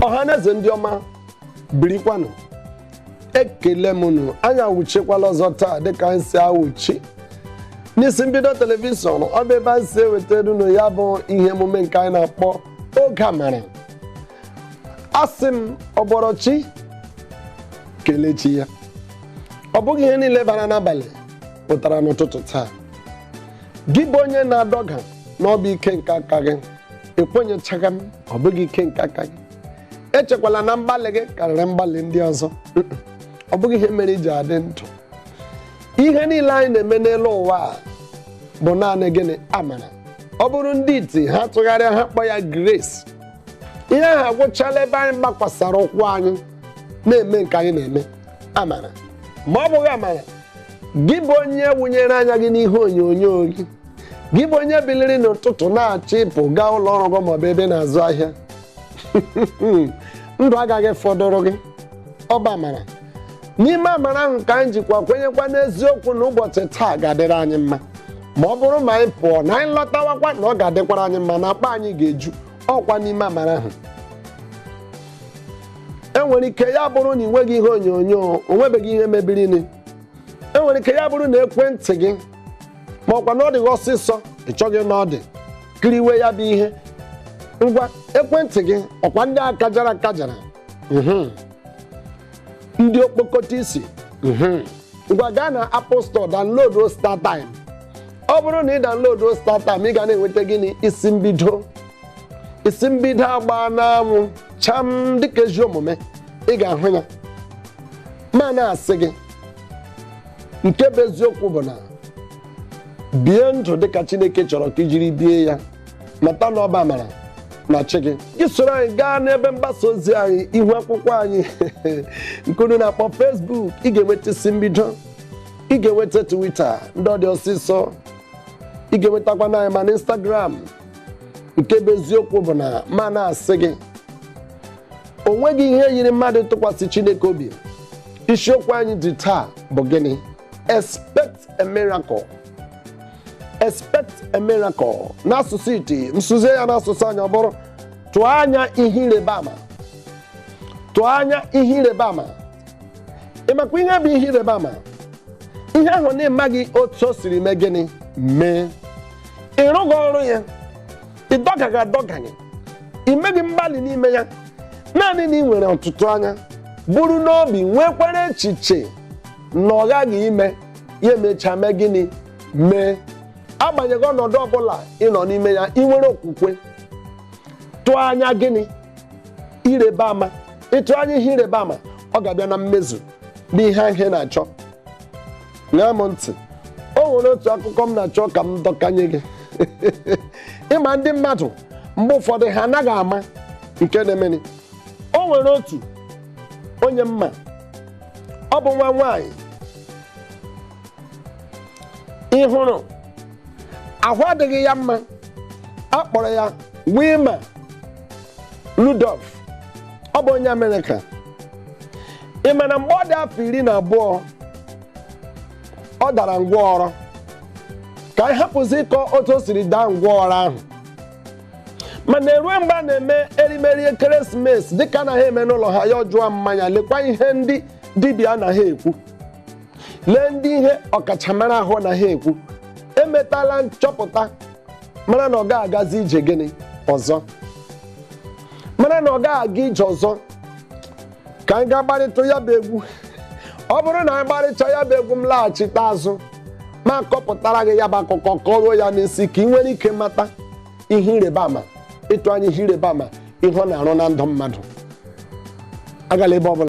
ọhaneze ndị ọma birikwanụ ekele m unu anyị awụchikwala ọzọ taa dịka anyị si awụchi n'isi mbido telivishọn ọ bụ ebe anyị si ewetara unu ya bụ ihe emume nke anyị na-akpọ oge amara asị m ọ bọrọ chi kelee chi ya ọ bụghị ihe niile bara n'abalị pụtara n'ụtụtụ taa gị bụ onye na-adọga na ọ bụ ike nke aka gị ekwenyechaghị m ọ bụghị ike nke aka gị echekwala na mgbalị gị karịrị mgbalị ndị ọzọ Mm-mm. ọ bụghị ihe mere i ji adị ndụ ihe niile anyị na-eme n'elu ụwa a bụ naanị gịnị amara ọ bụrụ ndị iti ha tụgharịa ha kpọ ya grace ihe ahụ agwụchala ebe anyị gbakwasara ụkwụ anyị na-eme nke anyị na-eme amara ma ọ bụghị amara gị bụ onye wụnyere anya gị n'ihe onyonyo gị gị bụ onye biliri n'ụtụtụ na-achọ ịpụ gaa ụlọ ọrụ gị maọbụ ebe ị na-azụ ahịa ndụ agaghị fọdụrụ gị ọ bụ amara n'ime amara ahụ ka anyị jikwa kwenyekwa n'eziokwu na ụbọchị taa ga-adịrị anyị mma ma ọ bụrụ ma anyị pụọ na anyị lọtawakwa na ọ ga-adịkwara anyị mma na akpa anyị ga-eju ọkwa n'ime amara ahụ e nwere ike ya bụrụ na ị nweghị ihe onyonyo o nwebeghị ihe mebirini e nwere ike ya bụrụ na ekwentị gị ma ọkwa na ọ dị gị ọsịsọ ị chọghị ịnọ ọdụ kiriwe ya bụ ihe ngwa ekwentị gị ọkwa ndị akajara akajara mhm. ndị okpokọta isi mhm. ngwa gaa na Apple Store download StarTime ọ bụrụ na ị download StarTime ị ga na-enweta gịnị isi mbido isi mbido agbaa n'anwụ cham dịka ezi omume ị ga-ahụ ya ma na-asị gị nke bụ eziokwu bụ na bie ndụ dịka chineke chọrọ ka i jiri bie ya mata na ọ bụ amara na chi gị gị soro anyị gaa n'ebe mgbasa ozi anyị ihu akwụkwọ anyị nke unu na-akpọ Facebook ị ga-enweta isi mbido ị ga-enweta Twitter ndị ọ dị ọsịsọ ị ga-enwetakwanụ anyị ma na Instagram nke bụ eziokwu bụ na ma na-asị gị o nweghị ihe yiri mmadụ ịtụkwasị Chineke obi isiokwu anyị dị taa bụ gịnị expect a miracle expect a miracle n'asụsụ iti m sụzie ya n'asụsụ anyị ọ bụrụ tụọ anya ihe ịrịba ama tụọ anya ihe ịrịba ama ị makwa ihe bụ ihe ịrịba ama ihe ahụ na ịmaghị otu o siri mee gịnị mee ị rụghị ọrụ ya ị dọgaghị adọga ị meghị mgbalị n'ime ya naanị na ị nwere ọtụtụ anya buru n'obi nwekwara echiche na ọ ghaghị ime ya emechaa mee gịnị mee agbanyeghị ọnọdụ ọbụla ị nọ n'ime ya ị nwere okwukwe tụọ anya gịnị ịrịba ama ịtụ anya ihe ịrịba ama ọ ga-abịa na mmezu n'ihe ahụ ị na-achọ ṅaa m ntị o nwere otu akụkọ m na-achọ ka m dọkanye gị ị ma ndị mmadụ mgbe ụfọdụ ha anaghị ama nke na-emeni o nwere otu onye m ma ọ bụ nwa nwaanyị ị hụrụ ahụ adịghị ya mma a kpọrọ ya Wilma Rudolph ọ bụ onye Amerịka ị ma na mgbe ọ dị afọ iri na abụọ ọ dara ngwọrọ ka anyị hapụzi ịkọ otu o siri daa ngwọrọ ahụ mana erue mgbe a na-eme erimeri ekeresimesi dịka a na ha eme n'ụlọ ha ya ajụọ mama ya lekwa ihe ndị dibịa na ha ekwu lee ndị ihe ọkachamara ahụ na ha ekwu emetala nchọpụta mara na ọ gaghị agazi ije gịnị ọzọ mara na ọ gaghị aga ije ọzọ ka anyị gaa gbarịtụ ya bụ egwu ọ bụrụ na anyị gbarịcha ya bụ egwu m laghachite azụ ma kọpụtara gị ya bụ akụkọ kọruo ya n'isi ka ị nwere ike mata ihe ịrịba ama ịtụ anya ihe ịrịba ama ihe ọ na-arụ na ndụ mmadụ agala ebe ọ bụla